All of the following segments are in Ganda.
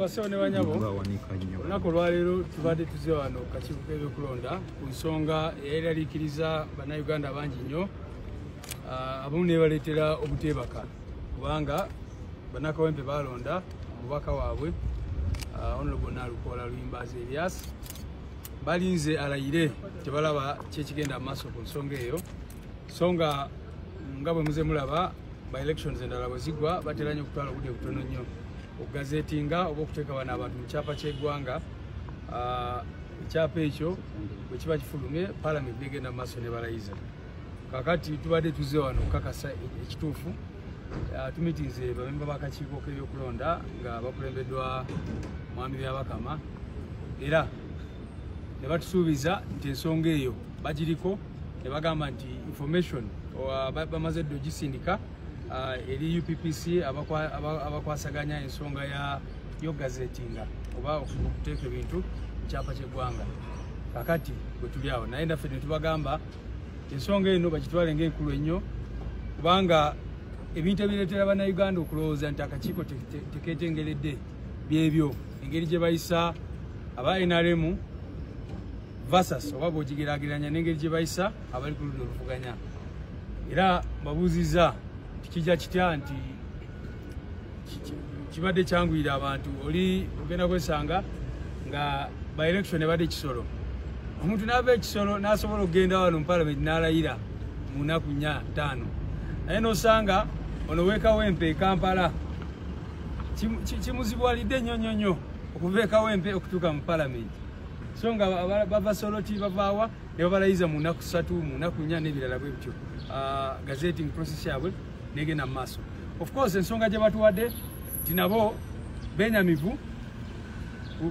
abasawo ne banyabo olunaku olwaleero tubadde tuze wano kakiiko k'ebyokulonda ku nsonga eyayiralikiriza bannayuganda bangi nnyo ah, abamu nebaleetera obuteebaka kubanga bannakawempe baalonda omubaka waabwe ah, onlobo nalukoola luyimbazi elias balinze alayire tebalaba kyekigenda mu maaso ku nsonga eyo so nga nga bwe muze mulaba by elections endala bwe zigwa batera nnyo okutwala obudde butono nnyo okugazetinga oba okuteeka bano abantu mu kyapa ky'eggwanga ah, ekyapa ekyo bwe kiba kifulumye palamenti negenda mu maaso ne balayiza kakati tubadde tuzze wano okukakasa ekituufu ah, tumitinze bamemba bakakiiko k'ebyokulonda nga bakulembeddwa mwami byabakama era ne batusuubiza nti ensonga eyo bagiriko ne bagamba nti information bamaze dde ogisindika uh, eri UPPC abakwasaganya aba, aba ensonga ya yo gazetinga oba okuteeka ebintu kyapa kyeggwanga kakati bwetuli awo naye naffe netubagamba ensonga eno bakitwale nga enkulu ennyo kubanga ebintu ebireetera bannayuganda okulowooza nti akakiiko teketengeredde byebyo engeri gye bayisa aba nrm versus oba bwogigerageranya nengeri gye bayisa abali ku ludda oluvuganya era babuuziza nti kijja kitya nti kibadde kyanguyira abantu oli ogenda kwesanga nga by election ebadde ekisolo omuntu naava ekisolo nasobola okugenda wano mupalamenti nalayira mu nnaku nya ttaano naye nosanga ono wekawempe ekampala kimuzibuwalidde nnyo nnyo nnyo okuva ekawempe okutuuka mu palamenti so nga bava soloti bavaawa ne babalayiza mu nnaku ssatu mu nnaku nnya n'ebirala bwe bityo ah, gazeting process yabwe negenda mu maaso of course ensonga gye batuwadde nti nabo benyamivu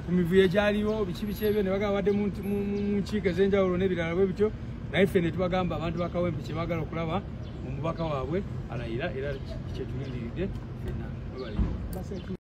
ku mivuyo egyaliwo biki biki ebyo ne bagabadde mu nkiiko ez'enjawulo n'ebirala bwe bityo naye ffe ne tubagamba abantu bakawempe kye baagala okulaba omubaka waabwe alayira era kyetulindiridde fenna